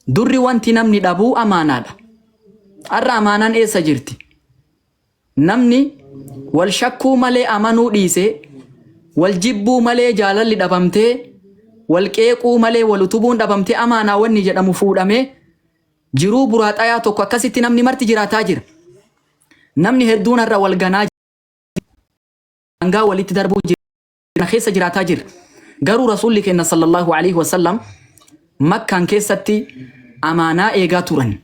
Durri wanti namni dhabu amaanaadha. Har'a amaanaan eessa jirti? Namni wal shakkuu malee amanuu dhiisee, wal jibbuu malee jaalalli dhabamtee, wal qeequu malee wal utubuun dhabamtee amaanaa wanni jedhamu fuudhamee jiruu buraaxayaa tokko akkasitti namni marti jiraataa jira. Namni hedduun har'a wal ganaa jira. Hangaa walitti darbuu jira. kana keessa jiraataa jirra. Garuu Rasuulli keenya sallallahu alaihi wasallam Makkaan keessatti amaanaa eegaa turan.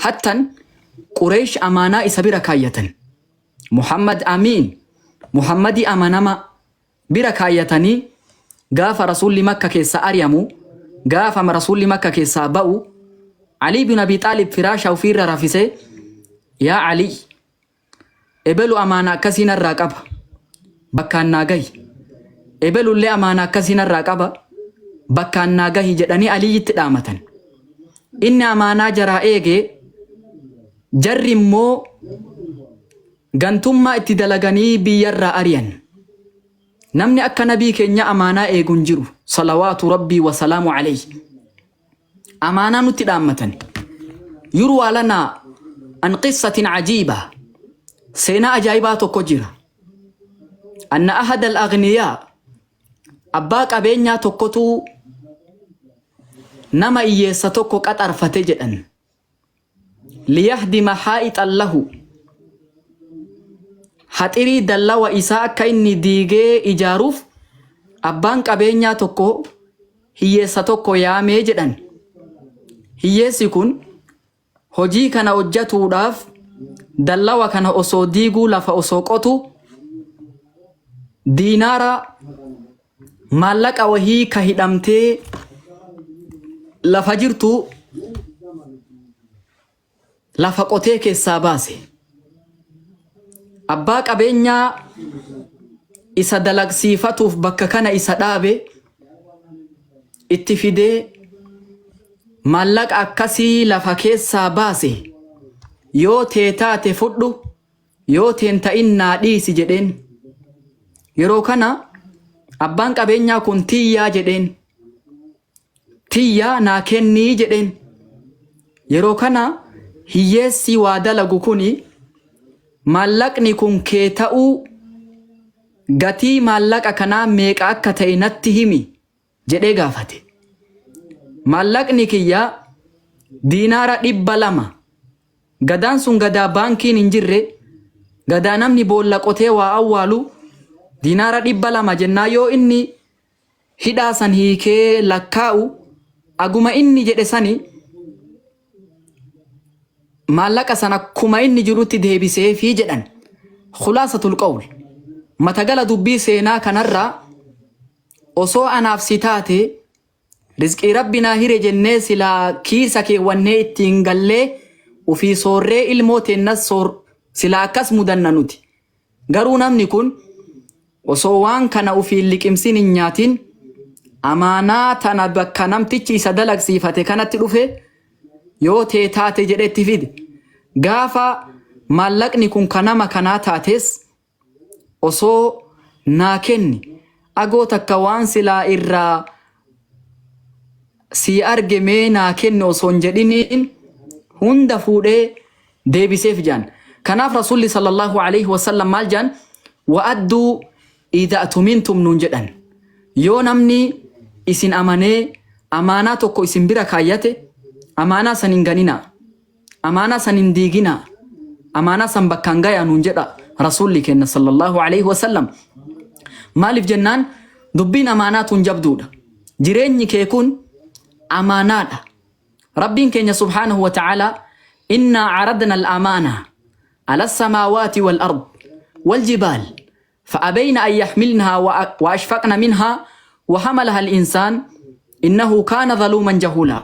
Hattan Qureesh amaanaa isa bira kaayyatan. Muhammad Amiin, Muhammadii amanama bira kaayyatanii gaafa Rasuulli Makka keessaa ari'amu, gaafa Rasuulli Makka keessaa ba'u, Alii bin Abi Xaalib firaasha ofiirra rafisee, yaa Alii, Ebelu amaana akkasii narraa qaba. Bakkaan naa gahi. Ebelullee amaana akkasii narraa qaba. Bakkaan naa gahi jedhanii Aliyyitti dhaamatan. Inni amaanaa jaraa eegee jarri immoo gantummaa itti dalaganii biyyarraa ari'an. Namni akka nabii keenyaa amaanaa eegu hin jiru. Salawaatu rabbii wa salaamu alayhi. amaanaa nutti dhaammatani yurwaa lanaa an qissatin cajiiba seenaa ajaa'ibaa tokko jira anna ahada al agniyaa abbaa qabeenyaa tokkotu nama iyyeessa tokko qaxarfate jedhan liyahdima haa'ixan lahu haxirii dallawa isaa akka inni diigee ijaaruuf abbaan qabeenyaa tokko hiyyeessa tokko yaamee jedhan hiyyeessi kun hojii kana hojjatuudhaaf dallawa kana osoo diiguu lafa osoo qotu diinaara Maallaqa wahii ka hidhamtee lafa jirtu lafa qotee keessaa baase. Abbaa qabeenyaa isa dalagsiifatuuf bakka kana isa dhaabe itti fidee maallaqa akkasii lafa keessaa baase yoo tee taate fudhu Yoo si hin ta'in naa dhiisi jedheen. Yeroo kana abbaan qabeenyaa kun tiyyaa jedheen. Tiyyaa naa kennii jedheen. Yeroo kana hiyyeessi waa dalagu kuni maallaqni kun kee ta'uu gatii maallaqa kanaa meeqa akka ta'e natti himi jedhee gaafate. Maallaqni kiyya diinaara dhibba lama. Gadaan sun gadaa baankiin hin jirre, gadaa namni boolla qotee waa awwaalu, diinaara dhibba lama jennaa yoo inni hidhaa san hiikee lakkaa'u, aguma inni jedhe sani maallaqa san akkuma inni jirutti deebiseefi jedhan. Khulaasatul qawl. Matagala dubbii seenaa kanarraa Osoo anaaf si taatee Rizqii rabbi naa hire jennee silaa kiisa keewwannee ittiin gallee ufii soorree ilmoo teennas soor silaa akkas mudanna nuti garuu namni kun osoo waan kana ufii hin liqimsin hin nyaatin amaanaa tana bakka namtichi isa dalagsiifate kanatti dhufe yoo tee taate jedhe itti fide gaafa maallaqni kun ka nama kanaa taates osoo naa kenni agoo takka waan silaa irraa sii arge mee naa kenni osoo hin jedhiniin hunda fuudhee deebiseef jaan kanaaf rasuulli sallallahu aleyhi wasallam maal jaan wa'adduu idha tumintum nuun jedhan yoo namni isin amanee amaanaa tokko isin bira kaayyate amaanaa san hin ganinaa Amaanaa san hin diiginaa. Amaanaa san bakkaan gayaa nuun jedha Rasuulli keenna sallallahu alayhi wa sallam. Maaliif jennaan dubbiin amaanaa tun jabduudha. Jireenyi kee kun amaanaadha. Rabbiin keenya subhaanahu wa ta'aalaa innaa caradna al-amaana ala as-samaawaati wal ard wal jibaal fa'abayna an yaxmilnahaa wa wa ashfaqna minhaa wa hamalaha al-insaan innahu kaana zaluuman jahuulaa.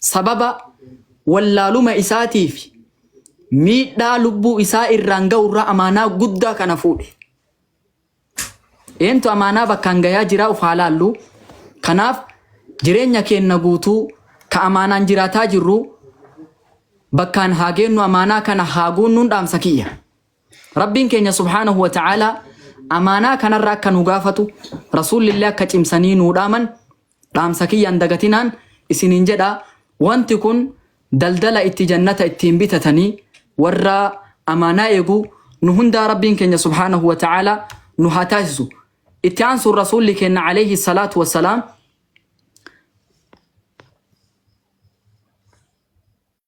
Sababa wallaaluma isaatii fi miidhaa lubbuu isaa irraan ga'u irraa amaanaa guddaa kana fuudhe. Eentu amaanaa bakkaan gayaa jiraa of haa laallu. Kanaaf jireenya keenna guutuu ka amaanaan jiraataa jirru bakkaan haa geennu amaanaa kana haa guunnuun dhaamsa kiyya. Rabbiin keenya subhaanahu wa ta'aalaa amaanaa kanarra akka nu gaafatu rasuulli illee akka cimsanii nuu dhaaman Dhaamsa kiyya hin dagatinaan isiniin jedha, wanti kun daldala itti jannata ittiin bitatanii warra amaanaa eegu nu hundaa Rabbiin keenya subhaanahu wa ta'aalaa nu haa taasisu. Itti aansuun Rasuulli keenya alayhi salaatu wa salaam,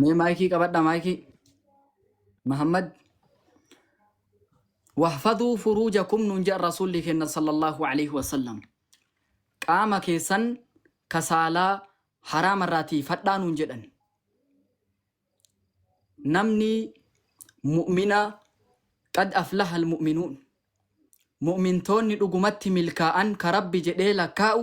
Mee maayikii qabadha maayikii. Muhammad. Wahfaduu furuujakum nuun jedhan rasuulli keenya sallallahu alaihi wasallam. Qaama keessan kasaalaa haraama irraa tiifadhaa nuun jedhan. Namni mu'mina qad aflaha almu'minuun. Mu'mintoonni dhugumatti milkaa'an ka rabbi jedhee lakkaa'u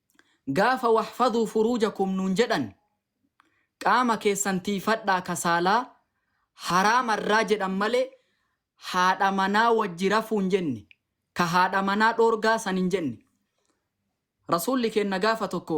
Gaafa Waxfadhuu furuujakum nuun jedhan qaama keessan tiiyfadhaa ka saalaa haraama irraa jedhan malee haadha manaa wajji rafuu hin jenne, ka haadha manaa dhoorgaa san hin jenne. Rasuulli keenna gaafa tokko.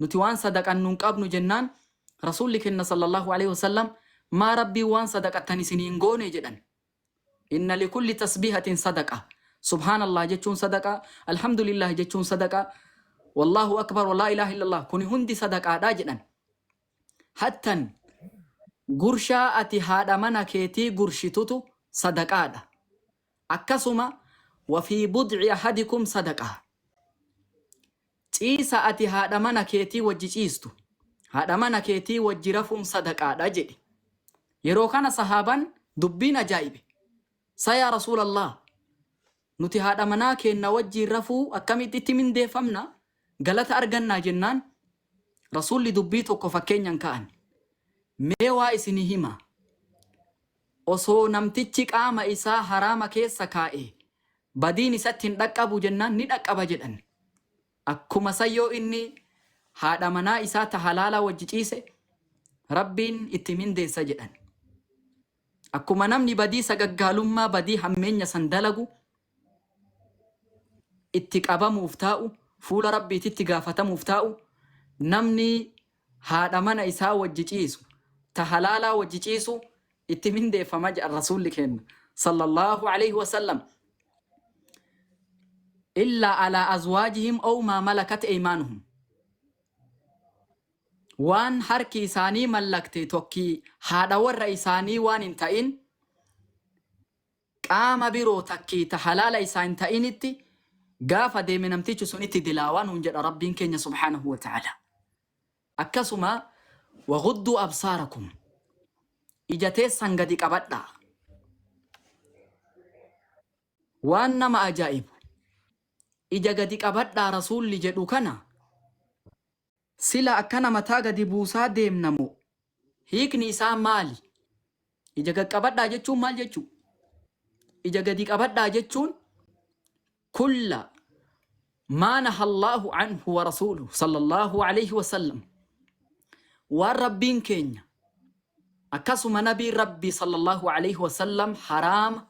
Nuti waan sadaqannu hin qabnu jennaan Rasuulli kenna sallallaahu aleeyhi wasallam, Maa Rabbiin waan sadaqattan isinii hin goone? jedhan. Inna likulli tasbiihatin sadaqa, Subhaanallaah jechuun sadaqa, Alhamdulillaah jechuun sadaqa, Wallaahu akbar wa laa ilaaha illallaah kuni hundi sadaqaadha jedhan. Hattan, gurshaa ati haadha mana keetii gurshitutu sadaqaadha. Akkasuma, Wa fii bud'i ahadikum sadaqah. Ciisa ati haadha mana keetii wajji ciistu, haadha mana keetii wajji rafuun sadaqaadha jedhe. Yeroo kana sahaaban dubbiin ajaa'ibe. Sa yaa Rasuulallaah! Nuti haadha manaa keenna wajjiin rafuu akkamitti itti mindeeffamna? Galata argannaa? jennaan, Rasuulli dubbii tokko fakkeenyan ka'an. Mee waa isinii hima. Osoo namtichi qaama isaa haraama keessa kaa'ee, Badiin isatti hin dhaqqabu jennaan ni dhaqqaba jedhan. Akkuma san yoo inni haadha manaa isaa ta halaalaa wajji ciise, Rabbiin itti mindeessa jedhan. Akkuma namni badii sagaggaalummaa, badii hammeenya san dalagu itti qabamuuf taa'u, fuula Rabbiititti gaafatamuuf taa'u, namni haadha mana isaa wajji ciisu, ta halaalaa wajji ciisu itti mindeeffama jedhan Rasuulli keenna, sallallaahu aleyhi wa sallam, illaa alaa azwaajihim aw maa malakat eymaanuhum, waan harki isaanii mallakte tokki haadha warra isaanii waan hin ta'in, qaama biroo takkii ta halaala isaa hin ta'initti gaafa deeme namtichi sunitti dilaawaa nuun jedha Rabbiin keenya subhaanahu wa ta'aalaa. Akkasuma waghudduu absaarakum ija teessan gadi qabadhaa. Waan nama ajaa'ibu ija gadi qabadhaa Rasuulli jedhu kana Sila akkana mataa gadi buusaa deemna moo? Hiikni isaa maali? Ija gad qabadhaa jechuun maal jechuu? Ija gadi qabadhaa jechuun kulla maa nahallaahu anhu wa rasuuluhu sallallahu alayhi wa sallam waan Rabbiin keenya akkasuma nabiin Rabbii sallallahu alayhi wa sallam haraama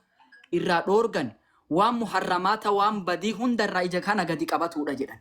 irraa dhoorgan waan muharramaata waan badii hunda irraa ija kana gadi qabatuudha jedhan.